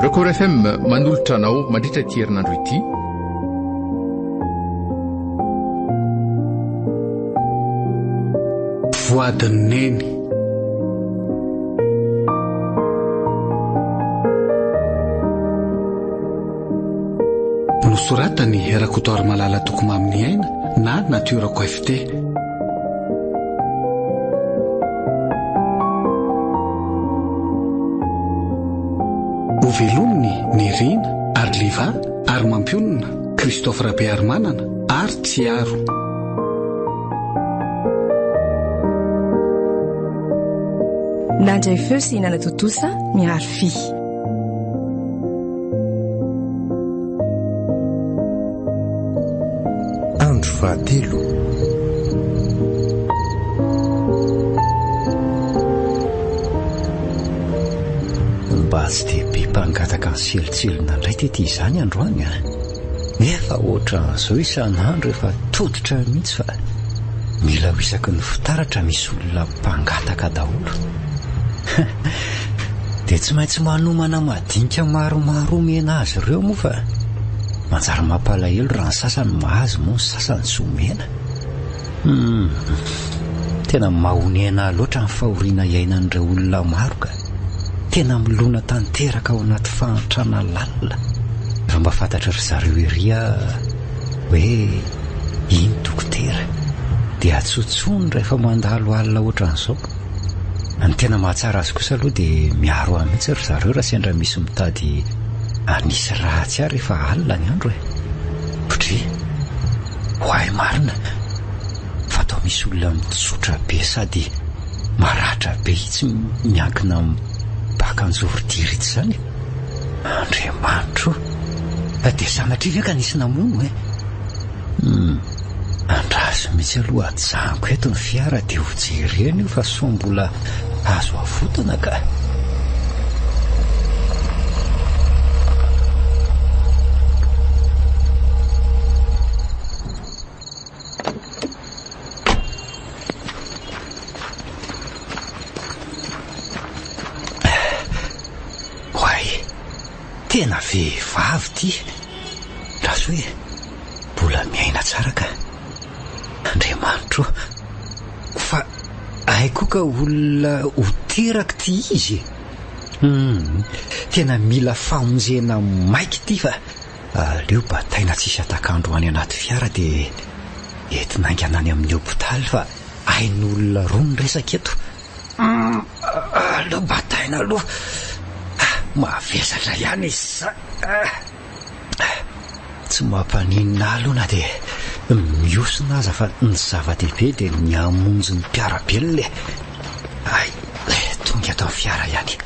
Record FM manolotra anao mandritra ity herinandro ity. Voix de Neny. Nosoratany Rakotoarimalala Tokomamy Niaina na Natiorako FT. Hovelomin'ny Nerina ary Liva ary mampionona Christophe Rabearimanana ary Tsiaro. Nandray feo sy nanatontosa miharo fy. Andro fahatelo. Mba tsy dia be mpangataka ny selotselona indray tety izany androany a! Nefa ohatran'izao isan'andro efa tototra mihitsy fa mila ho isaky ny fitaratra misy olona mpangataka daholo. Dia tsy maintsy manomana madinika maromaro omena azy ireo moa fa manjary mampalahelo raha ny sasany mahazo moa ny sasany tsy omena. Hmm. Tena mahonena loatra ny fahoriana iainan'ireo olona maro ka. Tena milona tanteraka ao anaty fahantrana lalina. Raha mba fantatry ry zareo ery aho hoe iny dokotera dia atsontsony rehefa mandalo alina ohatran'izao. Ny tena mahatsara azy kosa aloha dia miaro ahy mihitsy ry zareo raha sendra misy mitady hanisy ratsy ahy rehefa alina ny andro e. Pdri, Oay marina fa atao misy olona mitsotra be sady maratra be itsy miankina amin'ny baka an-jorotiry itsy izany e. Andriamanitro o! Dia sanatria ve ka nisy namono e? Hum. Andraso mihitsy aloha ajanoko eto ny fiara dia ho jerena io fa sao mbola azo avotana ka. Tena vehivavy ity Rasoa e! Mbola miaina tsara ka! Andriamanitro o! Fa hay koa ka olona ho teraka ity izy e! Hum! Tena mila famonjena maika ity fa aleo bataina tsisy hatak'andro any anaty fiara dia entina haingana any amin'ny hopitaly fa ain'olona roa ny resaka eto! Aleo bataina aloha, mavesatra ihany izy izany. Tsy mampaninona ahy aloha na dia mihosona aza fa ny zava-dehibe dia ny hamonjy ny mpiara-belona e. Hay, tonga eto ny fiara ihany.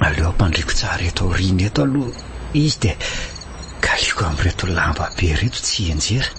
Aleo ampandriako tsara eto aoriana eto aloha izy dia kaliako amin'ireto lamba be ireto tsy hianjera.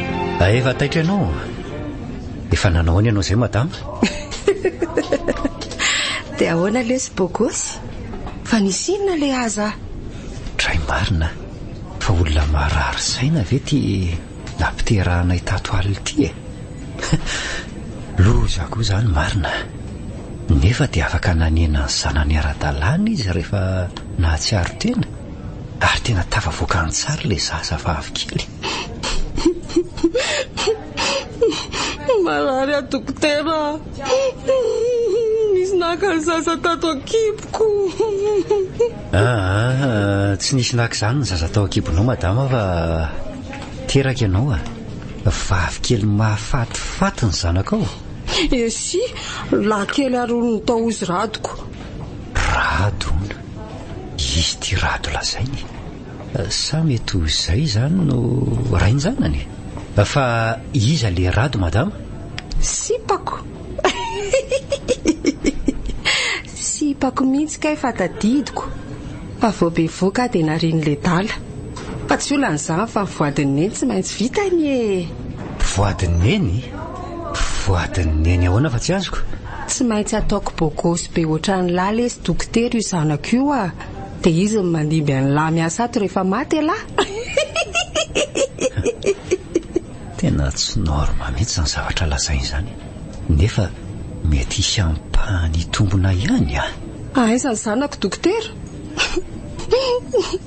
Ae efa taitra ianao a! Efa nanao ahoana ianao izay madama? Dia ahoana lesy bogosy? Fa nisy inona le aza? Dray marina fa olona marary saina ve ty nampiterahanay tato alina ty e? Loza koa izany marina. Nefa dia afaka nanena ny zanany ara-dalàna izy rehefa nahatsiaro tena ary tena tafavoaka an-tsary ilay zazavavy kely. Marary aho dokotera a! Nisy naka ny zaza tato an-kiboko. Aa, tsy nisy naka izany ny zaza tao an-kibonao madama fa teraka ianao a! Vavikely mahafatifaty ny zanakao. Esi, lahikely ary olon'ny tao izy Radoko. Rado hono, izy ity Rado lazainy e! Sa mety ho izay izany no rain-janany? Fa iza le Rado madama? Sipako! Sipako mihitsy kay fa tadidiko fa vao bevoka dia nariany le dala. Fa tsy olana izany fa ny voadin'i Neny tsy maintsy vita anie e! Voadin'i Neny? Voadin'i Neny ahoana fa tsy azoko? Tsy maintsy ataoko bogosy be ohatran'i Lala e sy Dokotera io zanako io a! Dia izy no mandimby an'i lahy miasa ato rehefa maty elah! Hihihihihihihi! Tena tsy norma mihitsy izany zavatra lazainy izany, nefa mety hisy ampahany hitombona ihany an! Aiza ny zanako dokotera? Hihihihihihi!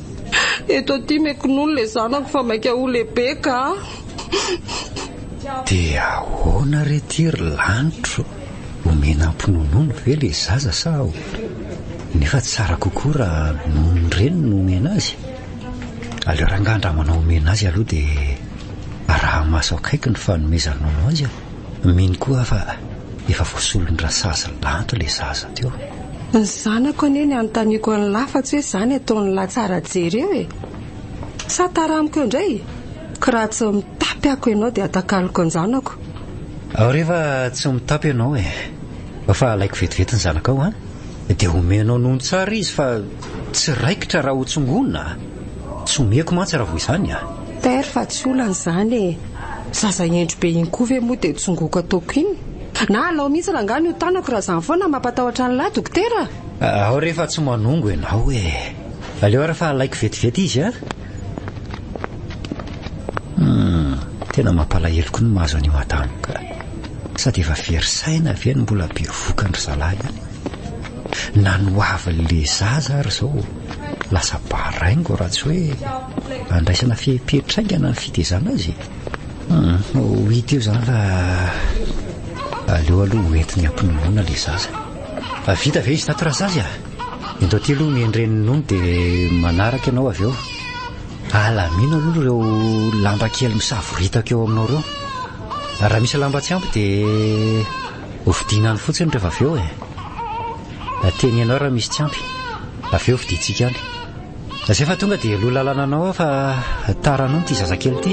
Eto aty me kinoa ilay zanako fa maika ho lehibe kah! Hihihihihihi! Dia ahoana re ity ry lanitro? Omena ampinonono ve ilay zaza sa ahoana? Nefa tsara kokoa raha nonon'ny reniny no omena azy. Aleo rangaha ndra manao omena azy aloha dia araho maso akaiky ny fanomezan-nono azy an! Mino koa aho fa efa voasolon-dRasazy Lanto ilay zaza teo. Ny zanako anie ny anontaniako an'i Lahy fa tsy hoe izany ataon'i Lahy tsara jery eo e! Sa taramiko eo indray? Ka raha tsy mitapy ako ianao dia atakaloko an-janako. Aoriva tsy mitapy ianao e! Fa alaiko vetivety ny zanakao an! Dia omenao nono tsara izy fa tsy raikitra raha hotsongona a! Tsy omeko mantsy raha vao izany a! Père fa tsy olana izany e! Zaza hendry be iny koa ve moa dia tsongoko ataoko iny? Na alao mihitsy rangahy ny ho tanako raha izany foana no mampatahotra an'lah dokotera a! Aho re efa tsy manongo ianao e! Aleo ary fa alaiko vetivety izy a! Hum, tena mampalahelo koa ny mahazo an'io madame ka. Sady efa very saina ve no mbola bevoka an-dry zalahy any? Na ny ho avin'le zaza ary izao lasa baraingo raha tsy hoe andraisana fehipetra haingana ny fitezana azy e. Hum, ho hita eo izany fa aleo aloha ho entin'ny ampinonoana le zaza. Vita ve izy tato Razazy a? Indro aty aloha ny endren'ny nono dia manaraka ianao avy eo. Alamino aloha ireo lamba kely misavoritaka eo aminao ireo. Raha misy lamba tsy ampy dia hofidiana any fotsiny rehefa avy eo e. Teneno aho raha misy tsy ampy. Avy eo hofidiantsika any. Izay fa tonga dia loha lalana anao aho fa tara nono ity zazakely ity.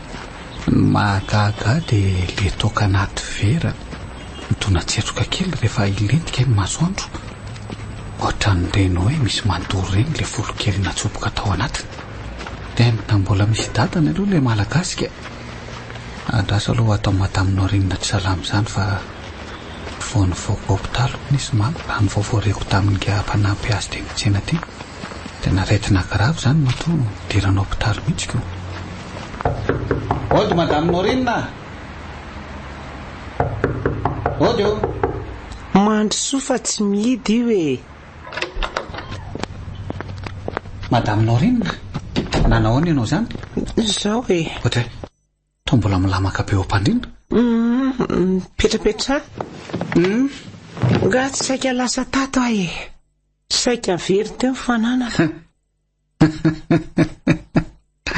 Ny mahagaga ahy dia ilay toaka anaty vera midona tsetroka kely rehefa hilentika ny masoandro. Ohatran'ireny hoe misy mandoro ireny ilay volo kely natsoboka tao anatiny. Tena mbola misy dadany aloha ilay Malagasy ka. Andraso aloha atao Madame Norinina Ry Salama izany fa vao nivoaka hopitaly hono izy mama raha ny vaovao reko tamin'ingahy mpanampy azy teny an-tsena teny. Tena aretina grave zany matoa nidirana hopitaly mihitsy ko. Ody madame Norine a! Ody o! Mandry soa fa tsy mihidy io e! Madame Norine, nanao ahoana ianao izany? Izao e! Ohatry hoe. Toa mbola milamaka be ompandrina? Uhm, mipetrapetraha. Uhm, nga tsy saika lasa tato aho e. Saika very teo ny fananako.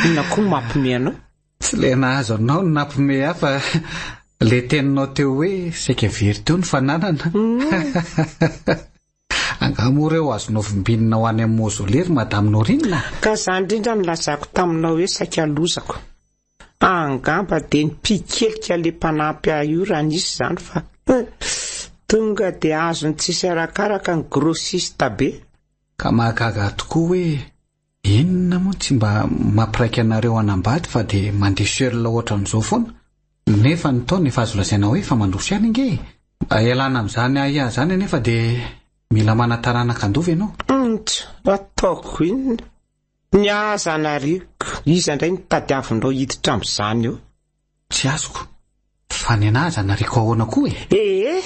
Inona koa mampome anao? Tsy le nahazo anao no nampome ahy fa le teninao teo hoe saika very teo ny fananana. Uhm. Angaha moa reo azo novimbinina ho any am mausolée ry madame Norina? Ka zany indrindra nilazako taminao hoe saika lozako. Angamba dia ny pikelika le mpanampy ahy io raha nisy zany fa tonga dia azony tsisy arakaraka ny grossiste be. Ka mahagaga tokoa hoe. Inona moa no tsy mba mampiraika anareo hanambady fa dia mandeha seul ohatran'izao foana? Nefa ny taona efa azo lazaina hoe efa mandroso ihany ange e! Mba ialana amin'izany ahiahy izany anefa dia mila mana-taranaka handova ianao. Ant! Ataoko inona? Ny ahy aza anariko, iza indray no tadiavinao hiditra amin'izany eo? Tsy azoko. Fa ny anah aza nariko ahoana koa e! Ee,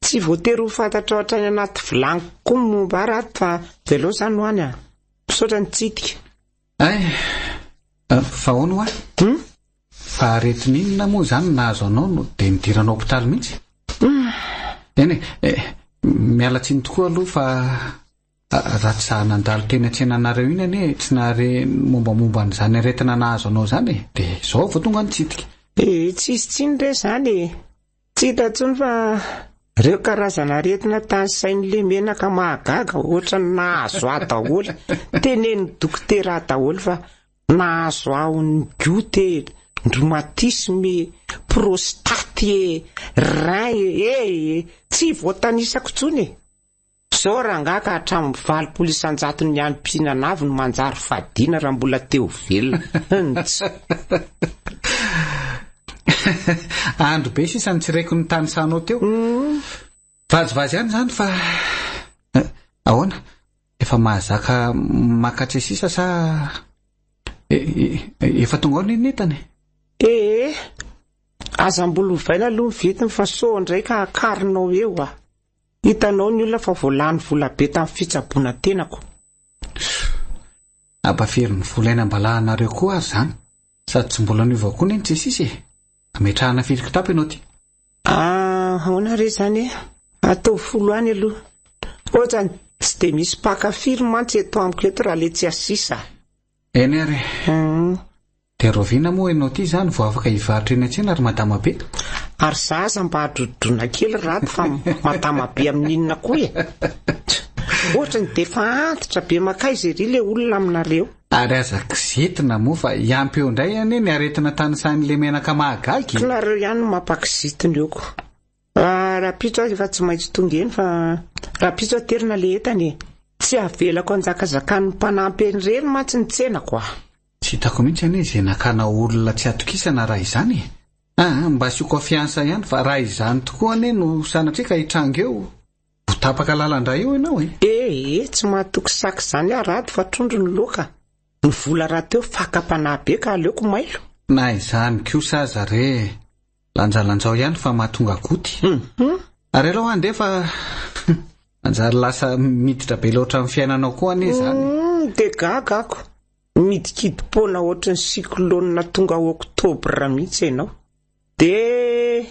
tsy voatery ho fantatrao hatrany anaty vilany kokoa ny momba ahy rato fa velao izany ho any a! Misaotra nitsidika. Ay, fa ahoana hoa? Hum? Fa aretin'inona moa izany no nahazo anao no dia nidiranao hopitaly mihitsy? Eny e, miala tsiny tokoa aloha fa. Raha tsy za nandalo teny an-tsenanareo iny anie tsy nahare ny mombamomba an'izany aretina nahazo anao izany e! Dia izao vao tonga nitsidika. Dia tsy hisy tsiny re izany e! Tsy hita intsony fa ireo karazan'aretina tanisain'i Lemenaka mahagaga ohatran'ny nahazo ahy daholo. Tenenin'ny dokotera ahy daholo fa nahazo ahy ho ny goute e, ny rhumatisme e, prostate e, rein e, eh e! Tsy voatanisako intsony e! Zao rangah ka hatramin'ny valopolo isan-jaton'ny any mpihinana avy no manjary fadiana raha mbola te ho velona. Hum-tss. Andro be sisa ny tsy reko ny tanisanao teo. Vazivazy ihany izany fa ahoana? Efa mahazaka makatsy sisa sa efa tonga ao ny nitany? Eh, aza mbola ovaina aloha ny vitiny fa sao indray ka hakarinao eo ah. Hitanao ny olona fa vao lany vola be tamin'ny fitsaboana tenako. Aba very ny vola eny am-balahanareo koa ary izany. Sady tsy mbola niova koa anie ny jesisy e. Ametrahana firy kitapo ianao ty? Ah, ahoana re izany e? Ataovy folo any aloha. Ohatrany, tsy dia misy mpaka firy mantsy eto amiko eto raha letsy asisa. Eny ary e. Hum. Dia rahoviana moa ianao ity izany vao afaka hivarotra eny an-tsena ry Madama Be? Ary za aza mba adrodroina kely ry Rato fa Madama Be amin'inona koa e? Tch! Ohatra ny dia efa antitra be makaiza ery ilay olona aminareo. Ary aza kizitina moa fa hiampy eo indray anie ny aretina tanisahin'ilay menaka mahagaga e! Koa nareo ihany no mampakizitina eo ko. Ah, rapitso aho efa tsy maintsy tonga eny fa rapitso aterina le entana e. Tsy avelako anjakazakan'ny mpanampy an'irery mantsy ny tsenako ah. Tsy hitako mihitsy anie izay nakana olona tsy atokisana raha izany e. Ah, mba asio confiance ihany fa raha izany tokoa anie no sanatria ka hitranga eo, ho tapaka lalandra eo ianao e. Eh eh, tsy mahatoky sac izany aho Rado fa trondro ny loaka. Ny vola rahateo fakam-panahy be ka aleoko mailo. Na izany kosa aza re. Lanjalanjao ihany fa mahatonga goty. Mhm. Ary aleo andeha fa manjary lasa miditra be loatra amin'ny fiainanao koa anie izany. Mhm, dia gaga ako. Midikidim-poana ohatry ny cyclone tonga oktobra mihitsy ianao. Dia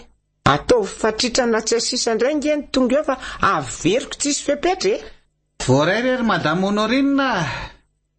ataovy fatritrana tsy asisa indray nge ny tonga eo fa averiko tsisy fepetra e! Voaray re ry Madame Honorine a!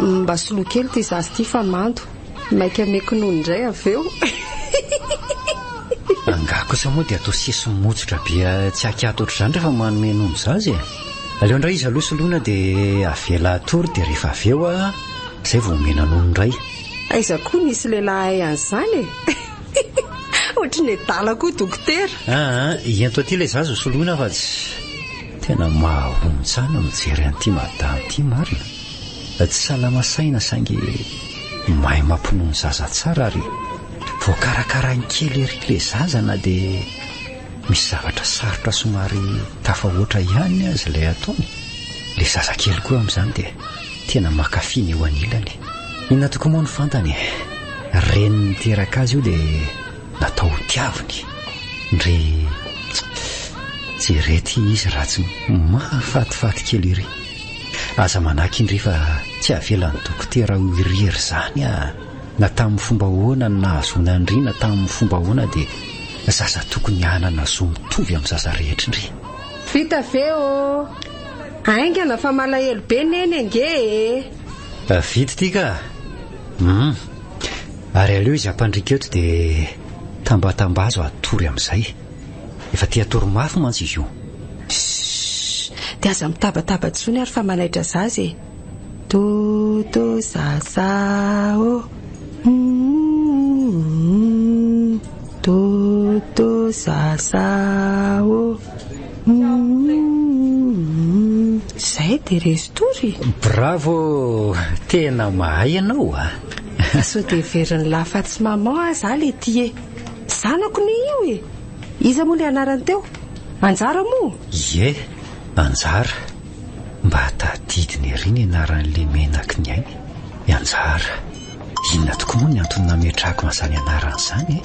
Mba soloy kely ity zaza ity fa mando. Maika meko nono indray avy eo. Angaha kosa moa dia atao sesy motsotra be tsy akiato ohatr'izany rehefa manome nono zaza e. Aleo indray izy aloha soloina dia avela hatory dia rehefa avy eo izay vao omena nono indray. Aiza koa nisy lehilahy hahay an'izany e. Ohatry ny adala koa dokotera. Aa, ento aty ilay zaza ho soloina fa tsy. Tena mahahonon-tsana mijery an'ity madama ity marina fa tsy salama saina saingy mahay mampinono ny zaza tsara ary voakarakarainy kely ery ilay zaza na dia misy zavatra sarotra somary tafahoatra ihany aza ilay ataony. Ilay zazakely koa amin'izany dia tena mankafy ny eo anilany. Inona tokoa moa no fantany e? Reniny niteraka azy io dia natao ho tiaviny ndry jere ty izy ratsy mahafatifaty kely iry aza manaky indry fa tsy avelan'ny dokotera ho irery zany a na tamin'ny fomba ahoana ny nahazoana ndry na tamin'ny fomba ahoana de zaza tokony hanana zo mitovy amin'ny zaza rehetra ndry vita ve ô aingana fa malahelo be neny ange e vita ity ka hum Ary aleo izy hampandriaka eto dia tambatambazo hatory amin'izay. Efa te hatory mafy mantsy izy io. Shh! Dia aza mitabataba intsony ary fa manaitra zaza e! Do do zaza ô! Do do zaza ô! Zay de rezy tory e! Bravo! Tena mahay ianao a! Sao dia heverin'i la fa tsy maman aza aho le ty e! Zanako ne io e! Iza moa le anarany teo? Anjara moa? Ie, Anjara. Mba tadidiny ery ny anaran'le menaky ny ainy. I Anjara. Inona tokoa moa ny antony nametrahako an'izany anarana izany e?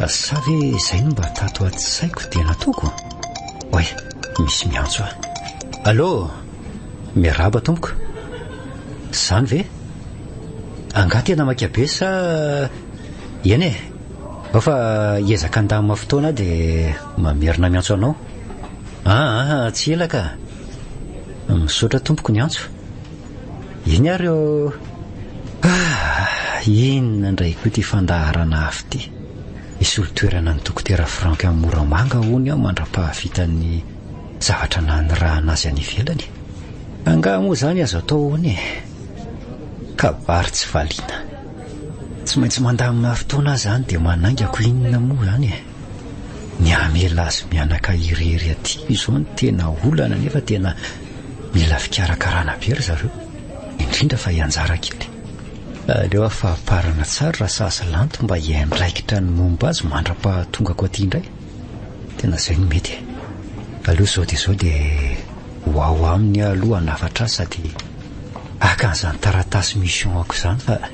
Sa ve izay no mba tato an-tsaiko dia nataoko? Oay, misy miantso ahy. Allô? Miarahaba tompoko. Izany ve? Angaha tena maika be sa eny e? Ao fa hiezaka handamina fotoana aho dia mamerina miantso anao. Ah, ah, tsy ela ka. Misaotra tompoko niantso. Eny ary ô! Ah! Inona indray koa ity fandaharana hafa ity? Hisolo toerana an'i Dokotera Franck any Moramanga hono aho mandra-pahavitan'ny zavatra nanirahana azy any ivelany e! Angaha moa izany azo atao hono e! Kabary tsy valiana. Tsy maintsy mandamina fotoana aho izany dia manaingako inona moa izany e! ny hamela azy mianaka irery aty izao no tena olana nefa tena mila fikarakarana be ry zareo indrindra fa ianjara kely aleo afahaparana tsara raha sazy lanto mba hiandraikitra ny momba azy mandra-pahatongako aty indray tena izay no mety e aleo izao dia izao dia ho ao aminy aloha hanafatra azy sady akan'izany taratasy mission ako izany fa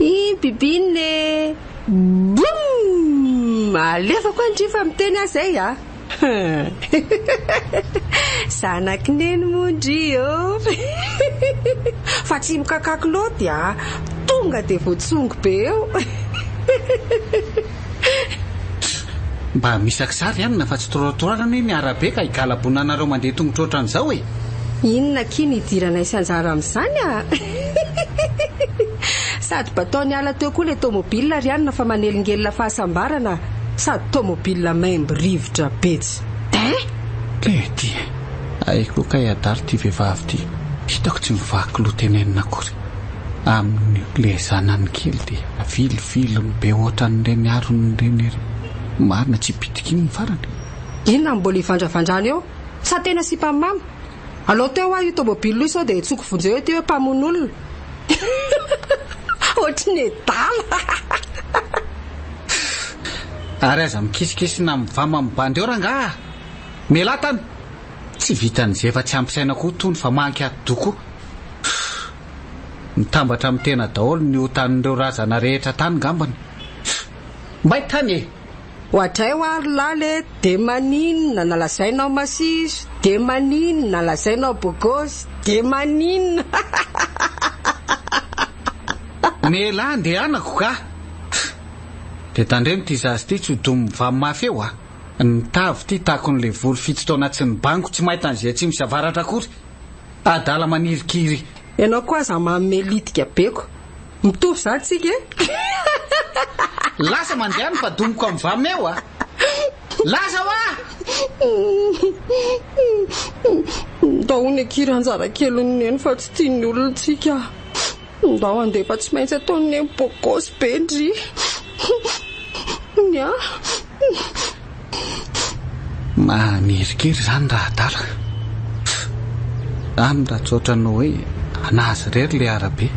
I bibin e! Boum! Alefako any ndry fa miteny aho zay a! Zanaky neny moa ndry ô! Fa tsy mikakak loty a! Tonga dia voatsongo be eo! Mba misy akzary anina fa tsy trottoir anie ny arabe ka higalabona anareo mandeha tongotra otran'izao e! Inona akia no hidiranay sy anjara amin'izany a! Sady batao niala teo koa ilay tomobile ry anina fa manelingelina fahasambarana sady tomobile maimbo rivotra be tsy Eeh! Tena ity e! Hay koa kay adala ity vehivavy ity, hitako tsy mivaky loha tenenina akory. aminy le zanany kely de avilivily be otran'ireny arony ireny ery marina tsy bitika iny ny farany. Inona no mbola ivandravandrany eo? Sa tena sipa mama? Alao teo hoa io tomobil io sao dia hetsoko vonjeo ety hoe mpamono olona. Ohatry ny adala. Ary aza mikisikisina mivama mibandy eo rangah ah! Mialà tany! Tsy vitan'izay efa tsy ampy saina koa tony fa manky ati-doha koa. Fff. Mitambatra amin'ny tena daholo ny otan'ireo razana rehetra tany ngambany. Fff. May tany e! Oadray hoa ry lala e de maninona nalazainao masiso de maninona nalazainao bogosy de maninona hahahahahahahaha. Ny elah andehanako kah! Fff. De tandremo ity zaza ity tsy ho domy mivaha mafy eo a! Ny tavy ity takon'ilay vory fito taona tsy nibango tsy may tany izay atsimo sy avaratra akory! adala manirikiry. Ianao koa aza manome litika be ko. Mitovy zany tsika eh. Lasa mandeha ny badomiko am vam eo a. Lasa hoa! Ndao hono akia ranjara kelin'i neny fa tsy tian'ny olona tsika. Ndao handeha fa tsy maintsy ataon'i Neny bôkôsy be ndry. Ny ahy. Mahamerin-kery izany raha adala. Any raha tsy ohatran'ny hoe an'azy irery ilay arabe.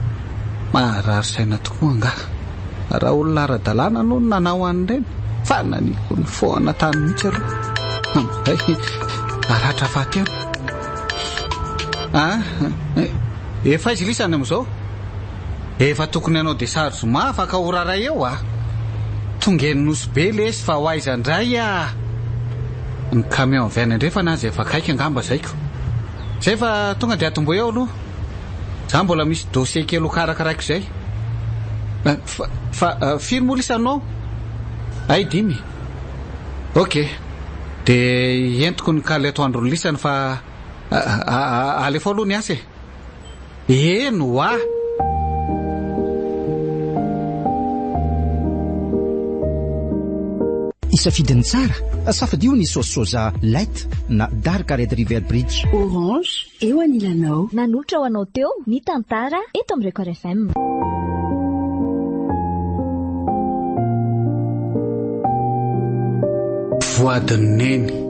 Maharary saina tokoa angaha. Raha olona ara-dalàna no nanao an'ireny fa nanipy ny foana tany mihitsy aloha. Amin'izay haratra fahatelo. Ah! Efa aiza lisany amizao? Efa tokony hanao desary zoma afaka ora iray eo ah! Tonga eny Nosy be lesy fa ho aiza ndray ah! Ny camion avy any andrefana aza efa akaiky angamba zaiko. Zay fa tonga de atomboy ao aloha. Za mbola misy dossier kely ho karakaraiko izay. Fa fa firy moa lisany no ao? Hay dimy? Ok. De entiko ny kale atoandro ny lisany fa. Alefao aloha ny asa e. Eny hoa! Isafidy ny tsara, safadio ny sauce soja light na dark red river bridge. Orange eo anilanao. Nanolotra ho anao teo ny tantara eto amin'ny Record FM. Voadin'ny neny.